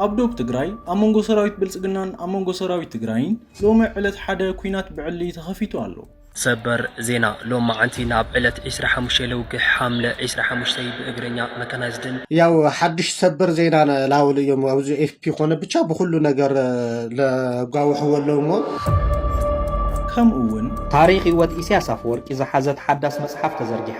ኣብ ዶብ ትግራይ ኣብ መንጎ ሰራዊት ብልፅግናን ኣብ መንጎ ሰራዊት ትግራይን ሎሚ ዕለት ሓደ ኩናት ብዕሊ ተኸፊቱ ኣሎ። ሰበር ዜና ሎም መዓንቲ ናብ ዕለት ዕስራ ሓሙሽተ ለውግሕ ሓምለ ዕስራ ሓሙሽተ ብእግረኛ መካናይዝድን፣ ያው ሓዱሽ ሰበር ዜና ን ላውል እዮም ኣዚ ኤፍፒ ኮነ ብቻ ብኩሉ ነገር ለጓውሕዎ ኣለው እሞ። ከምኡ ውን። ታሪኽ ህይወት ኢሳያስ ኣፈወርቂ ዝሓዘት ሓዳስ መጽሓፍ ተዘርጊሓ።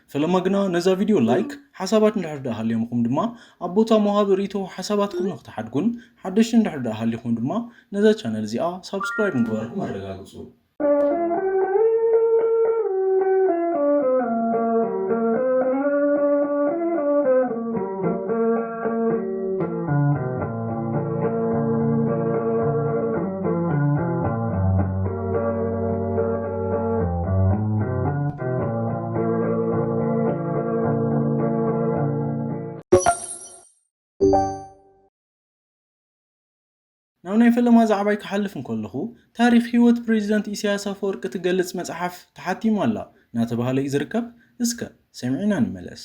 ፈለማ ግና ነዛ ቪድዮ ላይክ፣ ሓሳባት እንድሕር ድኣ ሃልዮምኹም ድማ ኣብ ቦታ መውሃቢ ሪኢቶ ሓሳባትኩም ንክትሓድጉን ሓደሽቲ እንድሕር ድኣ ሃሊኹም ድማ ነዛ ቻነል እዚኣ ሳብስክራይብ ምግባርኩም ኣረጋግጹ። ናብ ናይ ፈለማ ዛዕባይ ክሓልፍ እንከለኹ፣ ታሪኽ ህይወት ፕረዚደንት ኢሳያስ ኣፈወርቂ ትገልጽ መጽሓፍ ተሓቲማ ኣላ እናተባህለ እዩ ዝርከብ። እስከ ሰሚዕና ንመለስ።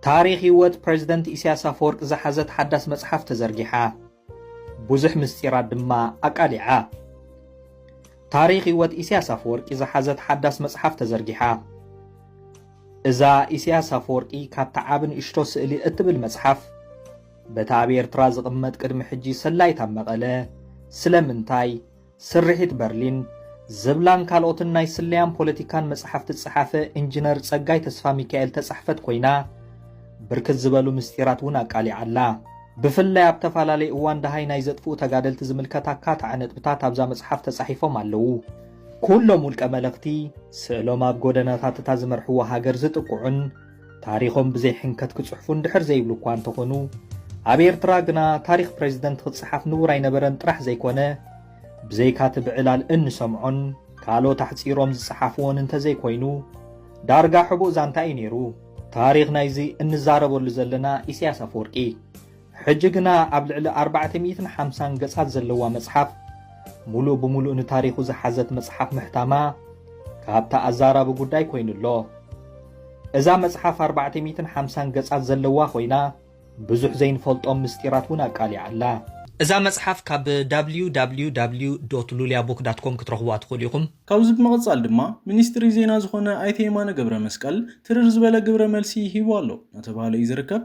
ታሪኽ ሂወት ፕረዚደንት ኢሳያስ ኣፈወርቂ ዝሓዘት ሓዳስ መጽሓፍ ተዘርጊሓ ብዙሕ ምስጢራት ድማ ኣቃሊዓ። ታሪኽ ሂወት ኢሳያስ ኣፈወርቂ ዝሓዘት ሓዳስ መጽሓፍ ተዘርጊሓ። እዛ ኢሳያስ ኣፈወርቂ ካብታ ዓቢ ንእሽቶ ስእሊ እትብል መጽሓፍ በታ ኣብ ኤርትራ ዝቕመጥ ቅድሚ ሕጂ ሰላይት ኣብ መቐለ ስለምንታይ ስርሒት በርሊን ዝብላን ካልኦትን ናይ ስለያን ፖለቲካን መጻሕፍቲ ዝጸሓፈ ኢንጂነር ጸጋይ ተስፋሚካኤል ተጻሕፈት ኮይና ብርክት ዝበሉ ምስጢራት እውን ኣቃሊዓ ኣላ። ብፍላይ ኣብ ተፈላለየ እዋን ደሃይ ናይ ዘጥፍኡ ተጋደልቲ ዝምልከት ኣካታዒ ነጥብታት ኣብዛ መጽሓፍ ተጻሒፎም ኣለዉ። ኩሎም ውልቀ መለኽቲ ስእሎም ኣብ ጎደናታት እታ ዝመርሕዎ ሃገር ዝጥቅዑን ታሪኾም ብዘይ ሕንከት ክጽሕፉ እንድሕር ዘይብሉ እኳ እንተኾኑ ኣብ ኤርትራ ግና ታሪኽ ፕሬዚደንት ክጽሓፍ ንቡር ኣይነበረን ጥራሕ ዘይኮነ ብዘይካ እቲ ብዕላል እንሰምዖን ካልኦት ኣሕጺሮም ዝጸሓፍዎን እንተዘይኮይኑ ዳርጋ ሕቡእ ዛንታ እዩ ነይሩ። ታሪኽ ናይዚ እንዛረበሉ ዘለና ኢሳያስ ኣፈወርቂ ሕጂ ግና ኣብ ልዕሊ ኣርባዕተ ሚእትን ሓምሳን ገጻት ዘለዋ መጽሓፍ ሙሉእ ብሙሉእ ንታሪኹ ዝሓዘት መጽሓፍ ምሕታማ ካብታ ኣዛራቢ ጉዳይ ኮይኑ ኣሎ። እዛ መጽሓፍ ኣርባዕተ ሚእትን ሓምሳን ገጻት ዘለዋ ኮይና ብዙሕ ዘይንፈልጦም ምስጢራት እውን ኣቃሊዓ ኣላ። እዛ መጽሓፍ ካብ www dot luliabook dot com ክትረኽቡዋ ትኽእሉ ኢኹም። ካብዚ ብምቕጻል ድማ ሚኒስትሪ ዜና ዝኾነ ኣይተ የማነ ገብረመስቀል ትርር ዝበለ ግብረ መልሲ ሂቡ ኣሎ እናተብሃለ እዩ ዝርከብ።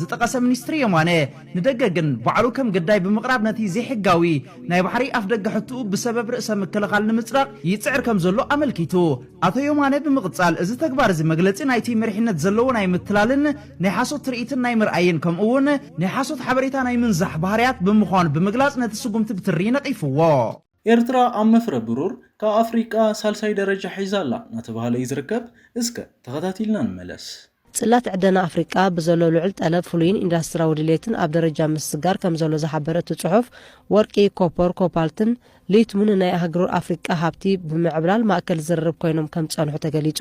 ዝጠቐሰ ሚኒስትሪ የማነ፣ ንደገ ግን ባዕሉ ከም ግዳይ ብምቕራብ ነቲ ዘይሕጋዊ ናይ ባሕሪ ኣፍደገ ሕትኡ ብሰበብ ርእሰ ምክልኻል ንምጽዳቕ ይጽዕር ከም ዘሎ ኣመልኪቱ። ኣቶ የማነ ብምቕጻል፣ እዚ ተግባር እዚ መግለጺ ናይቲ መሪሕነት ዘለዎ ናይ ምትላልን ናይ ሓሶት ትርኢትን ናይ ምርኣይን ከምኡ'ውን ናይ ሓሶት ሓበሬታ ናይ ምንዛሕ ባህርያት ብምዃኑ ብምግላጽ ነቲ ስጉምቲ ብትሪ ነቒፍዎ። ኤርትራ ኣብ መፍረ ብሩር ካብ ኣፍሪቃ ሳልሳይ ደረጃ ሒዛ ኣላ እናተብሃለ እዩ ዝርከብ። እስከ ተኸታቲልና ንመለስ። ጽላት ዕደና ኣፍሪቃ ብዘሎ ልዑል ጠለብ፣ ፍሉይን ኢንዳስትሪያዊ ድሌትን ኣብ ደረጃ ምስግጋር ከምዘሎ ዝሓበረ እቲ ጽሑፍ፣ ወርቂ፣ ኮፖር፣ ኮፓልትን ሊትሙን ንናይ ኣህግሩ ኣፍሪቃ ሃብቲ ብምዕብላል ማእከል ዝርርብ ኮይኖም ከምዝጸንሑ ተገሊጹ።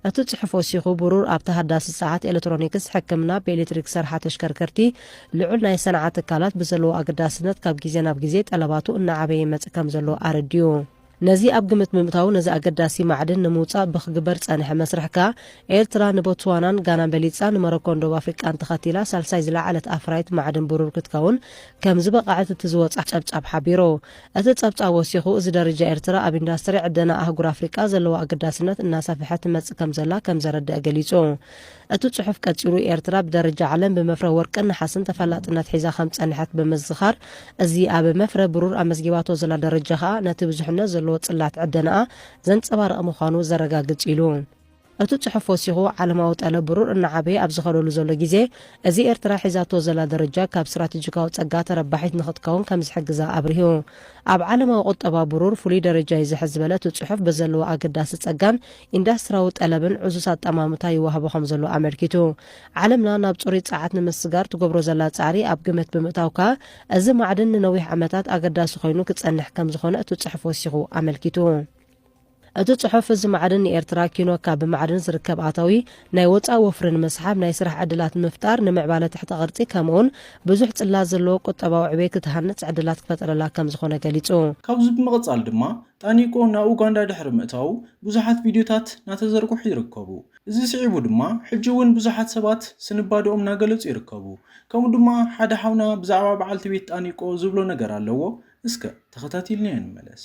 እቲ ጽሑፍ ወሲኹ ብሩር ኣብ ተሃዳሲ ጸዓት፣ ኤለትሮኒክስ፣ ሕክምና፣ ብኤሌክትሪክ ዝሰርሓ ተሽከርከርቲ፣ ልዑል ናይ ሰንዓ ትካላት ብዘለዎ ኣገዳስነት ካብ ግዜ ናብ ግዜ ጠለባቱ እናዓበየ ይመጽእ ከምዘሎ ኣረዲኡ። ነዚ ኣብ ግምት ብምእታው ነዚ ኣገዳሲ ማዕድን ንምውጻእ ብክግበር ዝጸንሐ መስርሕ ከኣ ኤርትራ ንቦትስዋናን ጋናን በሊጻ ንመሮኮን ደቡብ ኣፍሪቃን ተኸቲላ ሳልሳይ ዝለዓለት ኣፍራይት ማዕድን ብሩር ክትከውን ከምዝበቐዐት እቲ ዝወጽኣ ጸብጻብ ሓቢሩ። እቲ ጸብጻብ ወሲኹ፣ እዚ ደርጃ ኤርትራ ኣብ ኢንዳስትሪ ዕደና ኣህጉር ኣፍሪቃ ዘለዋ ኣገዳስነት እናሰፍሐት ትመጽእ ከምዘላ ከም ዘረድእ ገሊጹ። እቲ ጽሑፍ ቀጺሉ፣ ኤርትራ ብደረጃ ዓለም ብመፍረ ወርቅን ነሓስን ተፈላጥነት ሒዛ ከም ዝጸንሐት ብምዝኻር፣ እዚ ኣብ መፍረ ብሩር ኣመዝጊባቶ ዘላ ደረጃ ከኣ ነቲ ብዙሕነት ዘለዎ ጽላት ዕደናኣ ዘንጸባርቕ ምዃኑ ዘረጋግጽ እዩ ኢሉ። እቲ ጽሑፍ ወሲኹ፣ ዓለማዊ ጠለብ ብሩር እናዓበየ ኣብ ዝኸደሉ ዘሎ ግዜ እዚ፣ ኤርትራ ሒዛቶ ዘላ ደረጃ ካብ ስትራተጂካዊ ጸጋ ተረባሒት ንኽትከውን ከም ዝሕግዛ ኣብሪሁ። ኣብ ዓለማዊ ቁጠባ ብሩር ፍሉይ ደረጃ'ዩ ዝሕዝ ዝበለ እቲ ጽሑፍ፣ ብዘለዎ ኣገዳሲ ጸጋን ኢንዳስትራዊ ጠለብን ዕዙዝ ኣጠማምታ ይወሃቦ ከም ዘሎ ኣመልኪቱ። ዓለምና ናብ ጽሩይ ጸዓት ንምስግጋር ትገብሮ ዘላ ጻዕሪ ኣብ ግምት ብምእታው ከኣ፣ እዚ ማዕድን ንነዊሕ ዓመታት ኣገዳሲ ኮይኑ ክጸንሕ ከም ዝኾነ እቲ ጽሑፍ ወሲኹ ኣመልኪቱ። እቲ ጽሑፍ እዚ ማዕድን ንኤርትራ ኪኖ ካብ ብማዕድን ዝርከብ ኣታዊ ናይ ወጻኢ ወፍሪ ንምስሓብ፣ ናይ ስራሕ ዕድላት ንምፍጣር፣ ንምዕባለ ትሕተ ቅርጺ ከምኡ'ውን ብዙሕ ጽላት ዘለዎ ቁጠባዊ ዕቤት ክትሃንጽ ዕድላት ክፈጥረላ ከም ዝኾነ ገሊጹ። ካብዚ ብምቕጻል ድማ ጣኒቆ ናብ ኡጋንዳ ድሕሪ ምእታዉ ብዙሓት ቪድዮታት ናተዘርግሑ ይርከቡ። እዚ ስዒቡ ድማ ሕጂ ውን ብዙሓት ሰባት ስንባደኦም ናገለጹ ይርከቡ። ከምኡ ድማ ሓደ ሓውና ብዛዕባ በዓልቲ ቤት ጣኒቆ ዝብሎ ነገር ኣለዎ እስከ ተኸታቲልናዮ ንመለስ።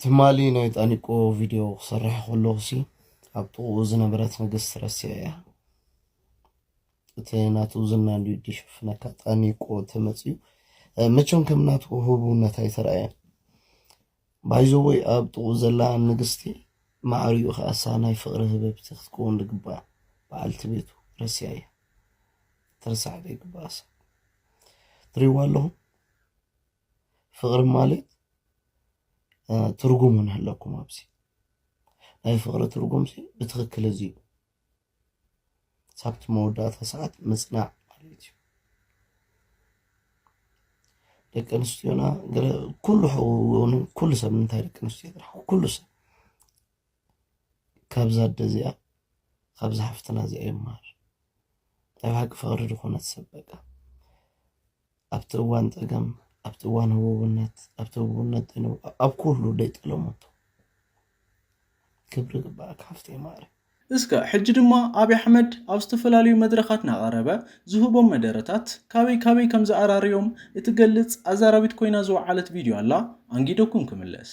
ትማሊ ናይ ጣኒቆ ቪድዮ ክሰርሕ ከለኹሲ ኣብ ጥቕኡ ዝነበረት ንግስቲ ረሲዐ እያ እቲ ናቱ ዝና እንድዩ ድሽፍነካ ጣኒቆ ተመፅዩ መቸም ከም ናቱ ህቡብነት ኣይተረኣየን ባይዘወይ ኣብ ጥቕኡ ዘላ ንግስቲ ማዕሪኡ ከኣሳ ናይ ፍቕሪ ህበብቲ ክትከውን ዝግባእ በዓልቲ ቤቱ ረሲያ እያ ትርሳዕ ዘይግባእሳ ትሪዋ ኣለኹም ፍቅሪ ማለት ትርጉም ንህለኩም ኣብዚ ናይ ፍቅሪ ትርጉም ብትክክል እዚ እዩ ሳብቲ መወዳእታ ሰዓት ምፅናዕ ማለት እዩ ደቂ ኣንስትዮና ኩሉ ሕውን ኩሉ ሰብ እንታይ ደቂ ኣንስትዮ ጥራሕ ኩሉ ሰብ ካብዛ ኣደ እዚኣ ካብዛ ሓፍትና እዚኣ ይመሃር ናይ ብሓቂ ፍቅሪ ድኮነት ሰብ በቃ ኣብቲ እዋን ጸገም፣ ኣብቲ እዋን ህቡብነት፣ ኣብቲ ህቡብነት ደኑ ኣብ ኩሉ ደይ ጠለሞቶ። ክብሪ ይግበኣካ ሓፍተይ ማዕረይ። እስከ ሕጂ ድማ ኣብይ ኣሕመድ ኣብ ዝተፈላለዩ መድረኻት ናቐረበ ዝህቦም መደረታት ካበይ ካበይ ከምዝኣራርዮም እትገልጽ ኣዛራቢት ኮይና ዝወዓለት ቪድዮ ኣላ ኣንጊደኩም ክምለስ።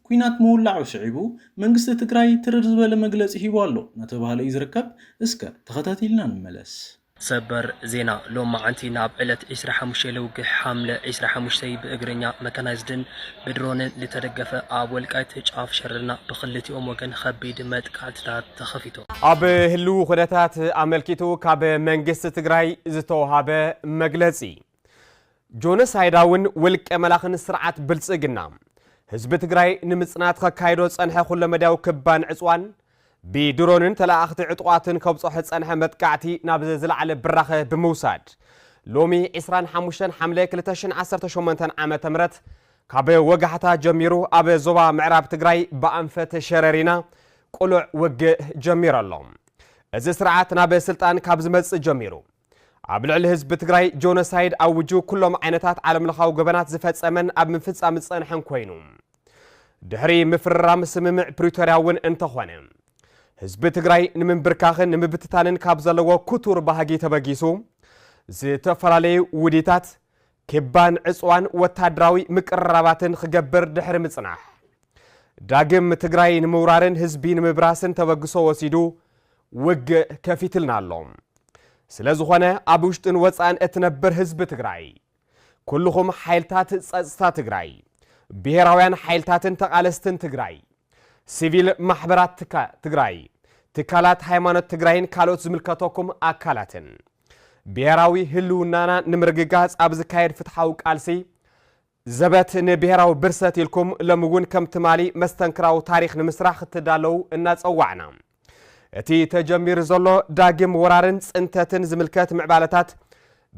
ኲናት ምውላዑ ስዒቡ መንግስቲ ትግራይ ትርር ዝበለ መግለፂ ሂቡ ኣሎ እናተብሃለ እዩ ዝርከብ። እስከ ተኸታቲልና ንመለስ። ሰበር ዜና ሎማዕንቲ ናብ ዕለት ዕስራ ሓሙሽተ ለውግሕ ሓምለ ዕስራ ሓሙሽተ ብእግረኛ መካናይዝድን ብድሮንን ልተደገፈ ኣብ ወልቃይት ጫፍ ሸረና ብክልቲኦም ወገን ኸቢድ መጥቃዕትታት ተኸፊቱ። ኣብ ህልዊ ኩነታት ኣመልኪቱ ካብ መንግስቲ ትግራይ ዝተውሃበ መግለፂ። ጆኖሳይዳውን ውልቀ መላኽን ስርዓት ብልጽግና ህዝቢ ትግራይ ንምጽናት ከካይዶ ዝጸንሐ ኩለ መዳያዊ ክባን ዕጽዋን ብድሮንን ተለኣኣኽቲ ዕጡቓትን ከብጽሖ ዝጸንሐ መጥቃዕቲ ናብ ዝለዓለ ብራኸ ብምውሳድ ሎሚ 25 ሓምለ 2018 ዓ ም ካብ ወጋሕታ ጀሚሩ ኣብ ዞባ ምዕራብ ትግራይ ብኣንፈት ሸረሪና ቁሉዕ ውግእ ጀሚሩ ኣሎ እዚ ስርዓት ናብ ስልጣን ካብ ዝመጽእ ጀሚሩ ኣብ ልዕሊ ህዝቢ ትግራይ ጆኖሳይድ ኣውጁ ኩሎም ዓይነታት ዓለምለኻዊ ገበናት ዝፈጸመን ኣብ ምፍጻም ዝጸንሐን ኮይኑ ድሕሪ ምፍርራም ስምምዕ ፕሪቶርያ እውን እንተኾነ ህዝቢ ትግራይ ንምንብርካኽን ንምብትታንን ካብ ዘለዎ ክቱር ባህጊ ተበጊሱ ዝተፈላለዩ ውዲታት ኪባን ዕጽዋን ወታደራዊ ምቅርራባትን ኽገብር ድሕሪ ምጽናሕ፣ ዳግም ትግራይ ንምውራርን ህዝቢ ንምብራስን ተበግሶ ወሲዱ ውግእ ከፊትልና ኣሎ። ስለ ዝኾነ ኣብ ውሽጥን ወጻእን እትነብር ህዝቢ ትግራይ፣ ኩልኹም ሓይልታት ጸጽታ ትግራይ፣ ብሄራውያን ሓይልታትን ተቓለስትን ትግራይ፣ ሲቪል ማሕበራት ትካ ትግራይ፣ ትካላት ሃይማኖት ትግራይን ካልኦት ዝምልከተኩም ኣካላትን ብሄራዊ ህልውናና ንምርግጋፅ ኣብ ዝካየድ ፍትሓዊ ቃልሲ ዘበት ንብሄራዊ ብርሰት ኢልኩም ሎሚ እውን ከም ትማሊ መስተንክራዊ ታሪክ ንምስራሕ ክትዳለዉ እናፀዋዕና እቲ ተጀሚሩ ዘሎ ዳግም ወራርን ፅንተትን ዝምልከት ምዕባለታት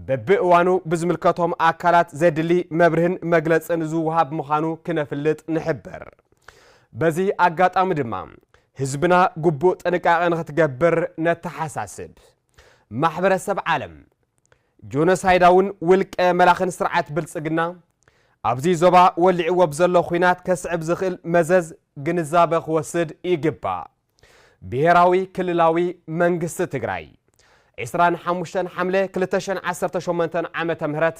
በብእዋኑ ብዝምልከቶም ኣካላት ዘድሊ መብርህን መግለፅን ዝወሃብ ምዃኑ ክነፍልጥ ንሕብር። በዚ ኣጋጣሚ ድማ ህዝብና ግቡእ ጥንቃቐ ንክትገብር ነተሓሳስብ። ማሕበረሰብ ዓለም፣ ጆኖሳይዳውን ውልቀ መላኽን ስርዓት ብልጽግና፣ ኣብዚ ዞባ ወሊዕዎ ብዘሎ ኹናት ከስዕብ ዝኽእል መዘዝ ግንዛበ ክወስድ ይግባእ። ብሄራዊ ክልላዊ መንግስቲ ትግራይ፣ ዕስራን ሓሙሽተን ሓምለ ክልተ ሽሕን ዓሰርተ ሸሞንተን ዓመተ ምህረት።